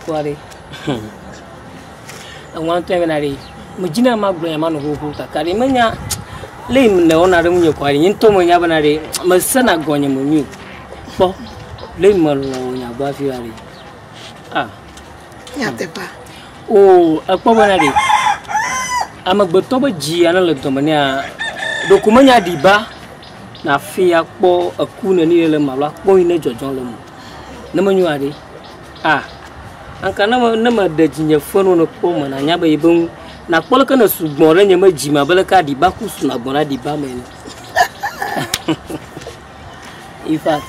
Kpɔ ɖe, eŋua ŋutɔ ya bena ɖe, medzi na magblɔ ya manɔ xoxo kaka ɖe menya le yi le wɔna ɖe ŋunye kɔa ɖe nye ŋutɔ menya bena ɖe mesena gɔnye me nyui kpɔ le yi melɔ nya gbɔ afi ya ɖe. Ah. Nyateƒa. O ekpɔ bena ɖe amegbetɔ be dzi ya ne le dɔme nea ɖeko menya ɖi ba. Na fi ya kpɔ eku neni le ma la kpɔ yi ne dzɔdzɔ le mo. Ne me nyua ɖe. A. Anka ne me ne me ɖe dzi nye fɛn wo ne kpɔ me na nya be yi be ŋu. Na kpɔ le ke ne sugbɔ ɖe nye me dzi ma be le ka ɖi ba ku su na gbɔ na ɖi ba me. In fact.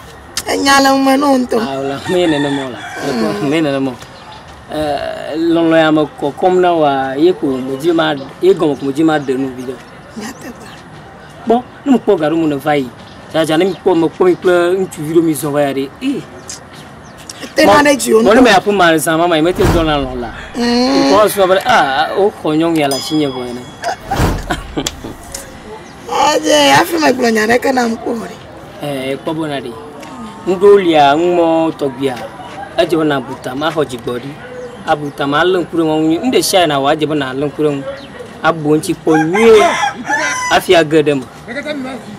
Enya le me no nto. A la me ne ne mo la. Me ne ne mo. Eh lolo ya me ko kom na wa ye ko mo dzi ma ye gom ko mo dzi ma de no bi de. Nya te ba. kpɔ ne mekpɔ ga ɖe mele va yi dzadza ne mekpɔ mekpɔ mi kple ŋutsuvi ɖo mi zɔ va ya ɖe ee tena ɖe dzi wonɔ. Mɔnu mɛ aƒe ma zã mama yi mete zɔ la lɔ la. Kɔ mm. sɔ be a ah, o xɔ nyɔnu ya la si nye vɔ ne. Ɔdze afi me gblɔ nya ɖeke na mkpɔ ɖe. Eh kpɔ bona ɖe. Ŋɖo lia ŋmɔ tɔgbia. Edze be na buta ma xɔ dzigbɔ ɖi. Abuta ma le ŋku ɖe ŋu. Ŋɖe sia na wa edze be na le ŋku ɖe ŋu. abu ŋutsi kpɔ nyuie hafi age ɖe eme.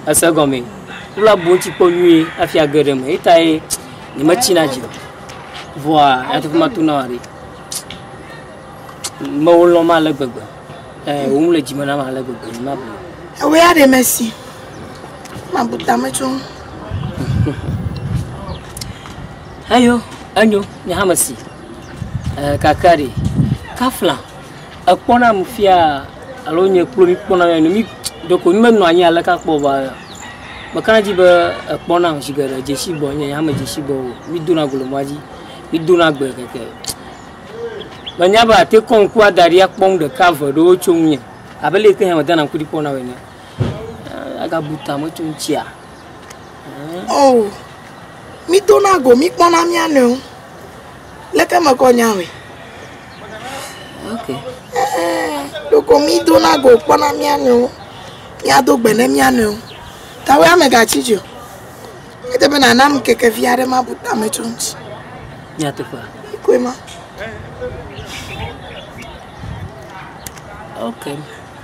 Ese gɔme. Wole abu ŋutsi kpɔ nyuie hafi age ɖe eme. Etae nyemetsina dzi o. Vɔa nyateƒe matu na wòa ɖi. Mewo lɔm ale gbegbe. Eh, wom le dzime nam ale gbegbe. Nyemabu. Ewe ya ɖe mesi. Mabu tame tso ŋu. Eyo, enyo, nye hã mesi. Eh, kakari. Kafla. Ekpɔ nam fia alo nye kplo mi kpɔ nam mi ɖeko mi menɔ anyi ale ka kpɔ ba me kana dzi be ekpɔ nam zi geɖe dzesi gbɔ nye hã me dzesi gbɔ o mi do na golo mɔa dzi mi do na gbe keke me nya be ate kɔ ŋku ada ɖi akpɔ ŋu ɖeka ve ɖewo tso ŋu nye abe le ke hã me dana ŋku ɖi kpɔ na wene aga bu ta me tso ŋu tsia o oh, mi do na go mi kpɔ na mia nɔewo Leke mekɔ nya hoe? Okay. Ɖeko mi dona go kpɔna mía nɔewo. Mía do gbe ne mía nɔewo. Tawe ame gatsi dzi o. Ete be nana mi keke vi aɖe ma bu tame tso ŋuti. Nyateƒe. Koe ma. Okay.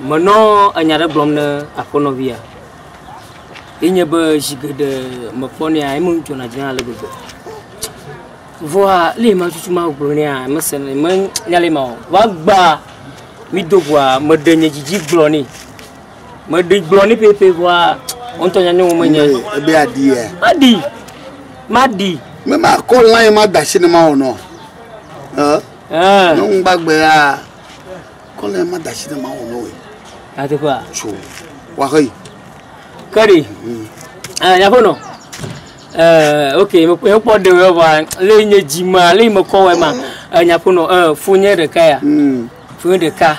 menɔ enya ɖe gblɔm ne aƒenɔvia yi nye be zi geɖe mekpɔnɛ ya eme dzona dzi ale gbegbe vɔa le ma tutu ma gblɔ nɛ mese ne me nya le ma o wa gba mi do gwa me de nye dzidzi gblɔ nɛ me de gblɔ nɛ pepe vɔa on to nya ne wo me nya e be adi ya ma di ma di me ma ko lan ma da sinema o no eh Nyɔnu gbagbe ya kɔ le ma da si ɖe mawu nɔ ye. Ateƒea. Tso waxe yi. Kɛɖi. Nyaƒenɔ. Ok, mekpɔ ɖe wɔ wa le nye dzi ma le mekɔ wɔ ma. Nyaƒenɔ, fonye ɖeka ya. Fonye ɖeka.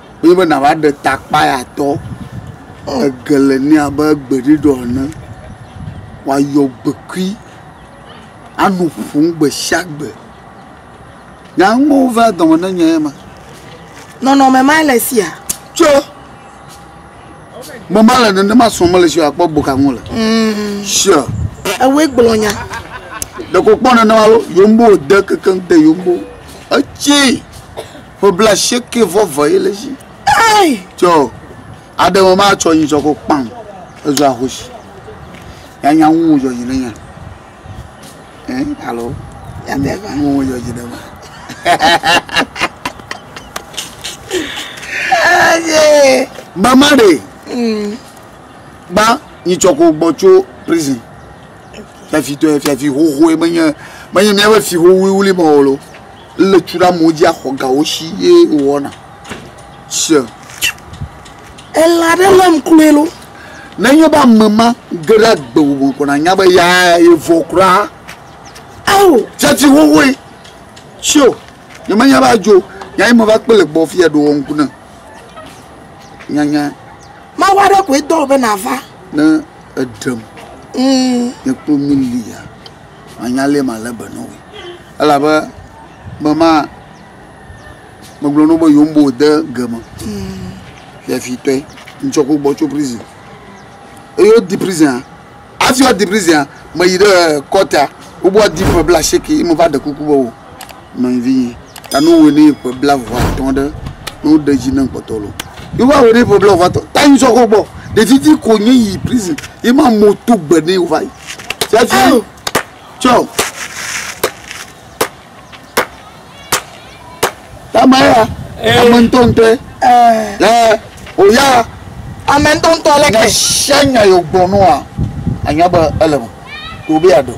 wonye be nàva ɖe ta akpayatɔ, ege le nɛ abe gbeɖuɖɔ ene, wòayɔ gbekui, anɔ ƒom gbe sia gbe. Nya ŋuwo va dɔme na nye ema. Nɔnɔme ma le sia. Tso me ma le nenema sɔ mele si akpɔ boka ŋu le. Mm. Sure. Ewe gblɔ nya. Ɖeko kpɔ nenema lo, yombo de kekeŋ de yombo. Etsi. Ƒe blaasieke vɔ ve ye le zi. Ei! Tsɔ aɖe me ma tsɔ yin tsɔ ko kpam. Ezu ahoshi. Ya nya ŋu jɔ yi ne nya. Eh, alo. Ya me va ŋu jɔ yi ne ma. Aye. Mama de. Mm. Ba yin tsɔ ko gbɔ tso prison. Fiafi to fiafi ho ho e menye menye mia be fi ho wuli wuli mo lo. Le tu ɖe amewo dzi axɔ ga wo si ye wowɔna. Se. Ele aɖe lém kloe lo. Nenye be ame ma ge ɖe agbe ŋu me ko nànya be ya yevɔ kura. Ao, tsatsi xoxoe. Sio, nyemenya be adzo nya ye meva kpe le gbɔ afi ya ɖoa ŋku ne nyanya. Mawu aɖe koe dɔ wò be nàva. Ne eɖem, nye kplo meli ya. manya lee malé be na wòe. Elabe be ma, megblɔ na wo be yewoŋugbe wòde ge me fiafitɔe. Ŋutsua ku gbɔ tso prizin. Eye wodi prizinia. Hafi woadi prizinia, meyi ɖe kɔtea, wobe woadi ƒe blaasieke ye meva ɖe kuku be wò. Nɔvinyɛ, ta ne wowɔe ne ƒe blaeve atɔ̃ ɖe, ne woɖe edzi ne kpɔtɔ lɔ, ye wova wɔe ne ƒe blaeve atɔ̃ ta ŋsɔ kɔ gbɔ. Ɖevi ti ko nye yi prison ye ma amewo to gbe ne wova yi. Fiafi tsɔ. Tama ya, ame ŋutɔ ŋutɔ ye. Ɛ, o ya. Ame ŋutɔ ŋutɔ leke. Nya sia nya ye wogblɔ nɔa, anya be ele me. Ɖe wobe yeaɖe o.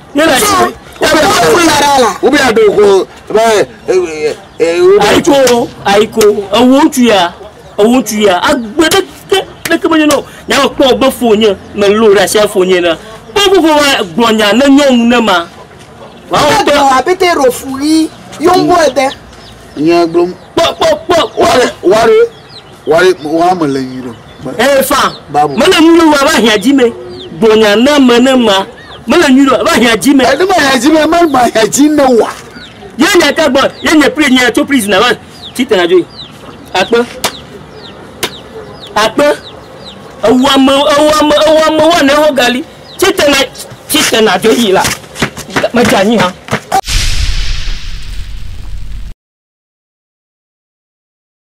ayiko ayiko ewo ŋutsu ya ewo ŋutsu ya agbe ɖe ke ɖe ke menye nɔ nya me kpɔ be fo nye me lo ɖe asi fo nye na kpɔ fofo wa gblɔ nya ne nyɔnu ne ma wàá wɔ tɔ apete rofu yi yombo ede nye gblom kpɔ kpɔ kpɔ kpɔ wàá wàá Why why me le nyuɖo? Eh fa. Me le nyuɖo wa va hia dzi me. Gbonya ne me ne ma. Me le nyuɖo va hia dzi me. Eh ne me hia dzi me me ma hia dzi ne wa. Ye nya ta gbɔ ye nye pri nya to prison va ti tena jo. Akpe. Akpe. Ewa me ewa me ewa me wa ne ho gali. Ti tena ti tena jo yi la. Me ja nyi ha.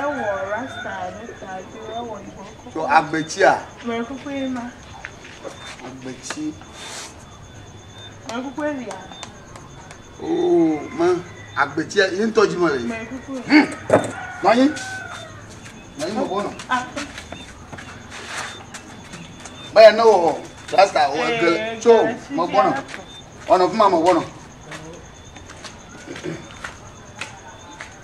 Ewɔ rasta ɖe ta tso ewɔ yibɔ kɔkɔ. Tso agbetsia. Mɛ kuku ye ma. Agbetsi. Mɛ kuku ye lia. Oo mɛ agbetsia ye ŋutɔ dzi me le yi. Mɛ kuku. Hmm. Nɔnyi. Nɔnyi mo bɔ nɔ. Mɛ ya ne wɔ rasta wɔ gele eh, tso mo bɔ nɔ. Ɔnɔ kuma mo bɔ nɔ.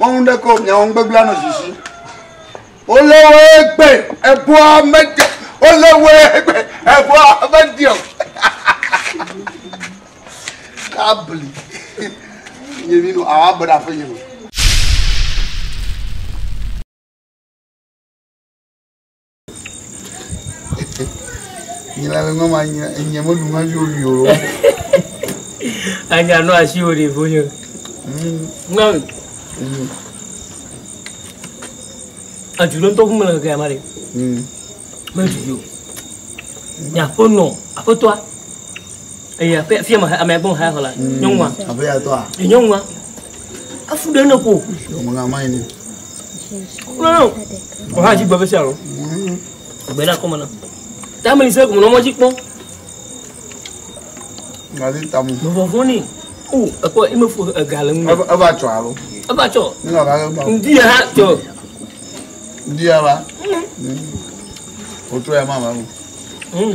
wɔnu ɖe ko miawɔ nugbegblẽ anɔ zizi wole wo egbe eboa mede wole wo egbe eboa mede o kabli nye mi no awa bena fɔ nye mi. Anya no asi wò ɖeviwo nye. Nyɔnu. Edu ɖe ŋutɔ ƒume le keke ama ɖe. Medu yi o. Nyaƒo nɔ aƒetɔa. Eya fia ma ame gbɔn ha xɔ la. Nyɔnua. Aƒetɔa. Nyɔnua. afu ɖe ne ko ɔmɔna ma yini kúrò ọha dzi gbɛfɛ sia lɔ gbɛ ɖe akɔmɔ na tami ni sɛ kò mɔ n'ɔmɔ dzi kpɔ ngali tamu vɔvɔ ni o ekɔ eme fo ega le ŋu eva tsɔ alo eva tsɔ ŋdi ya ha tsɔ ŋdi ya va o tó ya má va o.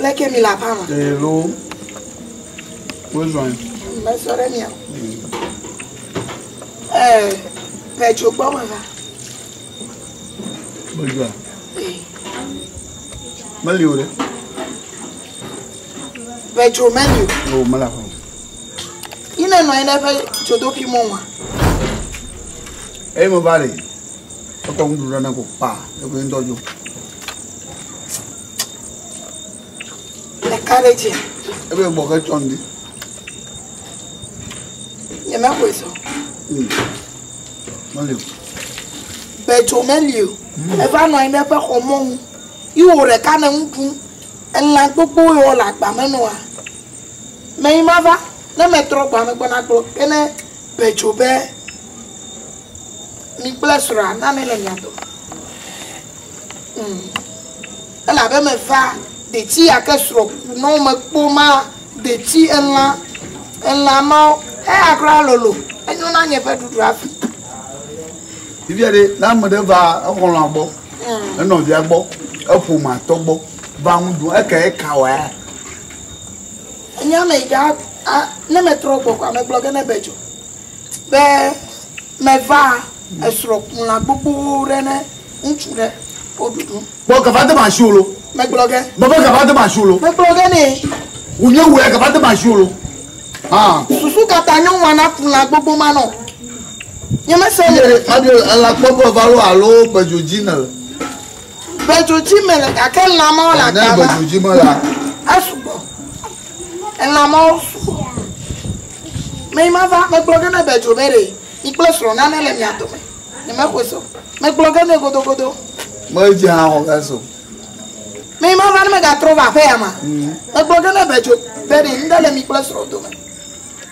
Leke mi la pama? Hello. Wezɔn. Mezɔ ɖe mia. Ɛɛ, Petro gbɔ me va. Mezɔa? Meli o ɖe. Petro meli o. O, mela fɔm. Yi ne nɔ anyi ɖe eƒe dzodoƒi mɔ ma. Eyi me va le. Ekɔ ŋuɖu ɖe ne ko kpa, ekɔ ŋutɔ dzo. Ɖeka ɖe dzia. Ebe gbɔ ke tsɔ ndi. Nye me ko eso. Hmm. Mali. Bedzo meli o. Hmm. Eva nɔ anyi ɖe eƒe xɔ mɔnu. Iwo ɖeka ne nu ɖum. Elã gbogbo yewo le agba me nɔa. Mɛ yi ma va ne metrɔ gba me gbɔna gblɔ ke ne bedzo be Mi kple srɔ̃a na ame le mia dome. Mm. Elabe meva detsi yake srɔ̃ ku nɔ mekpo ma detsi elã elã ma eya kura lolo enyo na nye ƒe ɖuɖu afi. Bibia ɖe na ame ɖe va exɔlɔa gbɔ mm. enɔvia gbɔ eƒome atɔ gbɔ va ŋu dun eke eka wa ya. Nyame ga ne metrɔ gbɔ kwa megblɔ ge ne be dzo. be meva esrɔ̃ kula gbogbowo ɖe ne ŋutsu ɖe wo ɖuɖu. Bɔ gava de ma sio lo. Megblɔ ge. Bɔ be gava de ma sio lo. Megblɔ ge ne. Wò nye wòe gava de ma sio lo. Ah. Susu kata nyɔ wa na kula gbogbo ma nɔ. Nye mese le. Adi ela kpɔ be va lo alo bedzo dzi ne le. Bedzo dzi me le gake lama la gava. Ne bedzo dzi me la. Esugbɔ. Elã mawo fu. Me yi mava, megblɔ ge na Bedzo be ɖe mi kple srɔ̃ nane le mia dome. Nyemexɔe se o. Megblɔ ge nɛ godogodo. Medze hã xɔ ge se o. Me yi mava ne megatrɔ va aƒe ya ma. Megblɔ ge na Bedzo be ɖe ŋɖe le mi kple srɔ̃ dome.